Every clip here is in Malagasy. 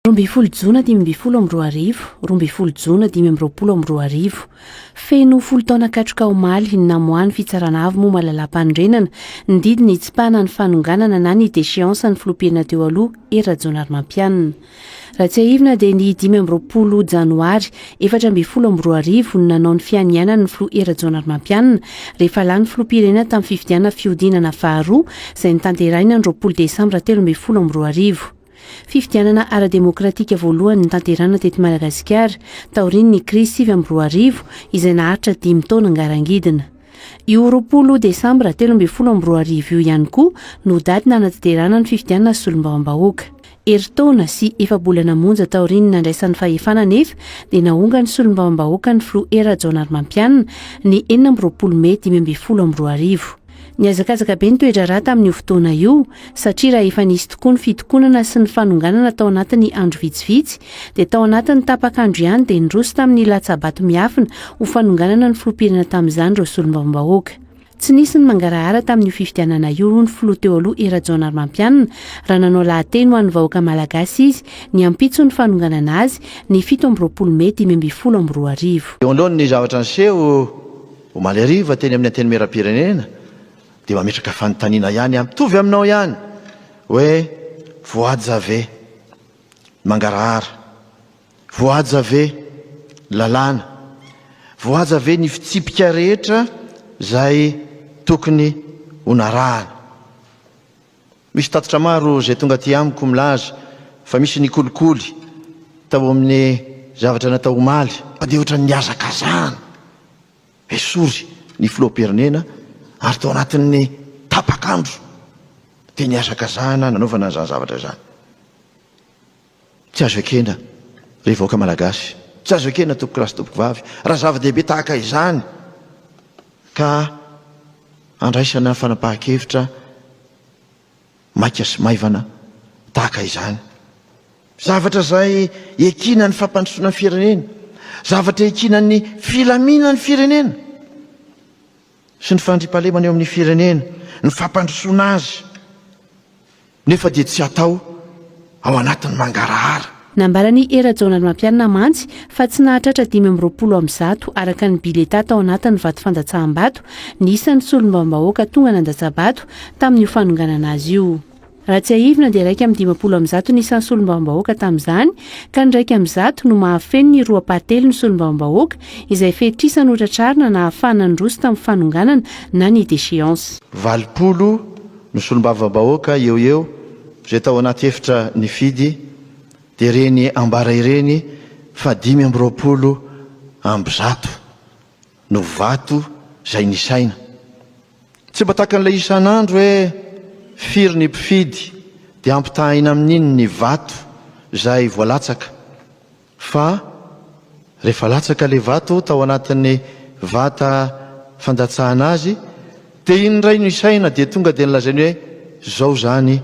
Roa ambin'ny folo jona dimy ambin'ny folo amby roa arivo, roa ambin'ny folo jona dimy amby roapolo amby roa arivo. Feno folo taona katroka omaly ny namoahan'ny Fitsarana Avo moa Malalam-panorenana ny didy nitsipahana ny fanonganana na ny déchéance ny Filoham-pirenena teo aloha Hery Rajaonarimampianina. Raha tsiahivina dia ny dimy amby roapolo janoary efatra ambin'ny folo amby roa arivo no nanao ny fianianany ny Filoha Hery Rajaonarimampianina rehefa lany Filoham-pirenena tamin'ny fifidianana fihodinana faharoa izay notanterahina ny roapolo desambra telo ambin'ny folo amby roa arivo. Fifidianana ara-demokratika voalohany notanterahina teto Madagasikara, taorian'ny krizy sivy amby roa arivo, izay naharitra dimy taona ngarangidina. Io roapolo desambra telo ambin'ny folo amby roa arivo io ihany koa no daty nanatanterahana ny fifidianana solombavambahoaka. Herintaona sy efa-bolana monja taorian'ny nandraisany fahefana anefa dia nahonga ny solombavambahoaka ny filoha Hery Rajaonarimampianina, ny enina amby roapolo mey dimy ambin'ny folo amby roa arivo. Nihazakazaka be ny toe-draharaha tamin'io fotoana io, satria raha efa nisy tokoa ny fitokonana sy ny fanonganana tao anatin'ny andro vitsivitsy, dia tao anatin'ny tapak'andro ihany dia niroso tamin'ny latsa-bato miafina ho fanonganana ny filoham-pirenena tamin'izany ireo solombavambahoaka. Tsy nisy ny mangarahara tamin'io fifidianana io, hoy ny filoha teo aloha Herajaonarimampianina, raha nanao lahateny ho an'ny vahoaka malagasy izy, ny ampitson'ny fanonganana azy, ny fito amby roapolo mey dimy ambin'ny folo amby roa arivo. Eo anoloan'ny zavatra niseho, Omaly hariva teny amin'ny Antenimierampirenena dia mametraka fanontaniana ihany aho mitovy aminao ihany hoe voahaja ve ny mangarahara? Voahaja ve ny lalàna? Voahaja ve ny fitsipika rehetra izay tokony ho narahana? Misy tatitra maro izay tonga aty amiko milaza fa misy ny kolikoly tao amin'ny zavatra natao omaly. Mandeha ohatran'ny nihazakazahana esory ny filoham-pirenena ary tao anatin'ny tapak'andro dia nihazakazahana nanaovana izany zavatra izany. Tsy azo ekena ry vahoaka Malagasy, tsy azo ekena tompokolahy sy tompokovavy raha zava-dehibe tahaka izany ka andraisana fanapahan-kevitra maika sy maivana tahaka izany. Zavatra izay ekina ny fampandrosoana ny firenena, zavatra ekina ny filaminan'ny firenena. sy ny fandriampahalemana eo amin'ny firenena, ny fampandrosoana azy, nefa dia tsy atao ao anatin'ny mangarahara. Nambaran'i Hery Rajaonarimampianina mantsy fa tsy nahatratra dimy amby roapolo amin'ny zato araka ny biletà tao anatin'ny vato fandatsahambato ny isan'ny solombavambahoaka tonga nandatsa-bato tamin'io fanonganana azy io. Raha tsiahivina dia iraika amby dimampolo amby zato ny isan'ny solombavambahoaka tamin'izany, ka ny iraika amby zato no mahafeno ny roa ampahatelon' ny solombavambahoaka izay fetr'isa notratrarina na afahana nandroso tamin'ny fanonganana na ny déchéance. Valopolo no solombavambahoaka eo ho eo izay tao anaty efitra nifidy, dia ireny ambara ireny fa dimy amby roapolo amby zato no vato izay nisaina. Tsy mba tahaka an'ilay isan'andro hoe firy ny mpifidy dia ampitahaina amin'iny ny vato izay voalatsaka fa rehefa latsaka ilay vato tao anatin'ny vata fandatsahana azy dia iny indray no isaina dia tonga dia nolazainy hoe izao izany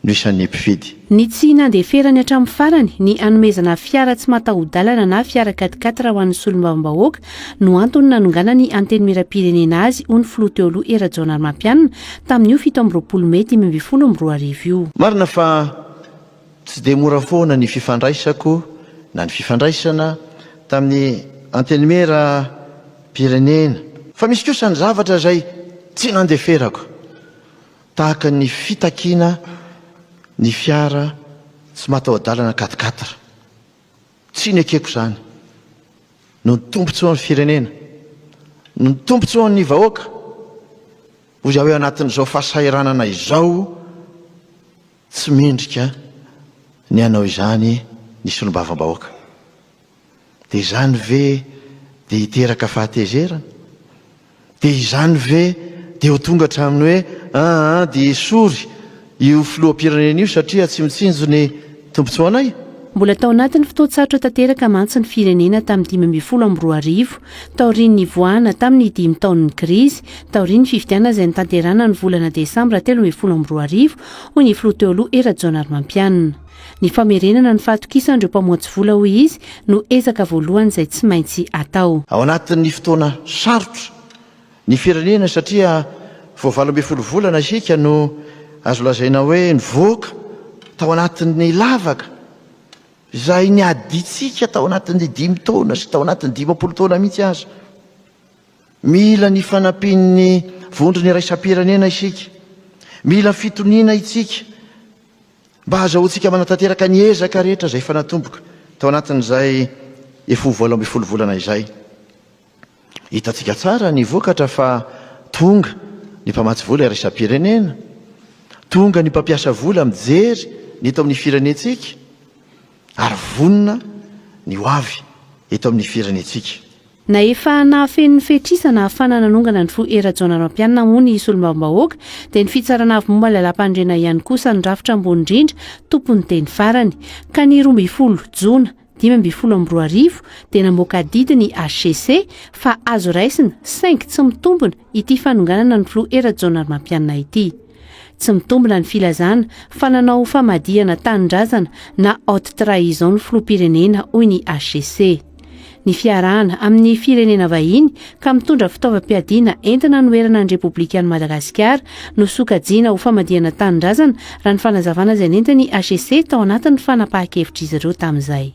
no isan'ny mpifidy. Ny tsy nandeferany hatramin'ny farany ny hanomezana fiara tsy mataho-dalana na fiara quatre quatre ho an'ny solombavambahoaka no antony nanonganany Antenimierampirenena azy, hoy ny filoha teo aloha Hery Rajaonarimampianina tamin'io fito amby roapolo mey dimy ambin'ny folo amby roa arivo io. Marina fa tsy dia mora foana ny fifandraisako na ny fifandraisana tamin'ny Antenimierampirenena, fa misy kosa ny zavatra izay tsy nandeferako. tahaka ny fitakiana ny fiara tsy mataho-dalana quatre quatre, tsy nekeko izany, noho ny tombontsoan'ny firenena, noho ny tombontsoan'ny vahoaka, hoy aho hoe anatin'izao fahasahiranana izao, tsy mendrika ny hanao izany ny solombavambahoaka. Dia izany ve dia hiteraka fahatezerana? Dia izany ve dia ho tonga hatramin'ny hoe aa dia hesory io filoham-pirenena io satria tsy mitsinjo ny tombontsoanay? Mbola tao anatin'ny fotoan-tsarotra tanteraka mantsy ny firenena tamin'ny dimy ambin'ny folo amby roa arivo, taorian'ny nivoahana tamin'ny dimy taon'ny krizy, taorian'ny fifidianana izay notanterahana ny volana desambra telo ambin'ny folo amby roa arivo, hoy ny filoha teo aloha Hery Rajaonarimampianina. Ny famerenana ny fahatokisan'ireo mpamoatsy vola, hoy izy, no ezaka voalohany izay tsy maintsy atao. Ao anatin'ny fotoana sarotra ny firenena satria vao valo ambin'ny folo volana isika no azo lazaina hoe nivoaka tao anatin'ny lavaka izay niadintsika tao anatin'ny dimy taona sy tao anatin'ny dimampolo taona mihitsy aza. Mila ny fanampian'ny vondrona iraisam-pirenena isika. Mila fitoniana itsika. Mba hahazahoantsika manatanteraka ny ezaka rehetra izay efa natomboka tao anatin'izay efa ho valo ambin'ny folo volana izay. Hitantsika tsara ny vokatra fa tonga ny mpamatsy vola iraisam-pirenena, tonga ny mpampiasa vola mijery ny eto amin'ny firenentsika, ary vonona ny ho avy eto amin'ny firenentsika. Na efa nahafeno ny fetr'isa nahafana nanongana ny fo Hery Rajaonarimampianina moa ny solombavambahoaka dia ny fitsarana avy momba ny lalàmpanorenana ihany kosa no rafitra ambony indrindra tompon'ny teny farany. Ka ny roa ambin'ny folo jona dimy ambin'ny folo amby roa arivo dia namoaka adidy ny hcc fa azo raisina saingy tsy mitombina ity fanonganana ny filoha Hery Rajaonarimampianina ity. Tsy mitombina ny filazana fa nanao famadihana tanindrazana na haute trahison ny filoham-pirenena, hoy ny HCC. Ny fiarahana amin'ny firenena vahiny ka mitondra fitaovam-piadiana entina hanoherana ny Repoblikan'i Madagasikara no sokajiana ho famadihana tanindrazana, raha ny fanazavana izay nentin'ny HCC tao anatin'ny fanapahan-kevitr'izy ireo tamin'izay.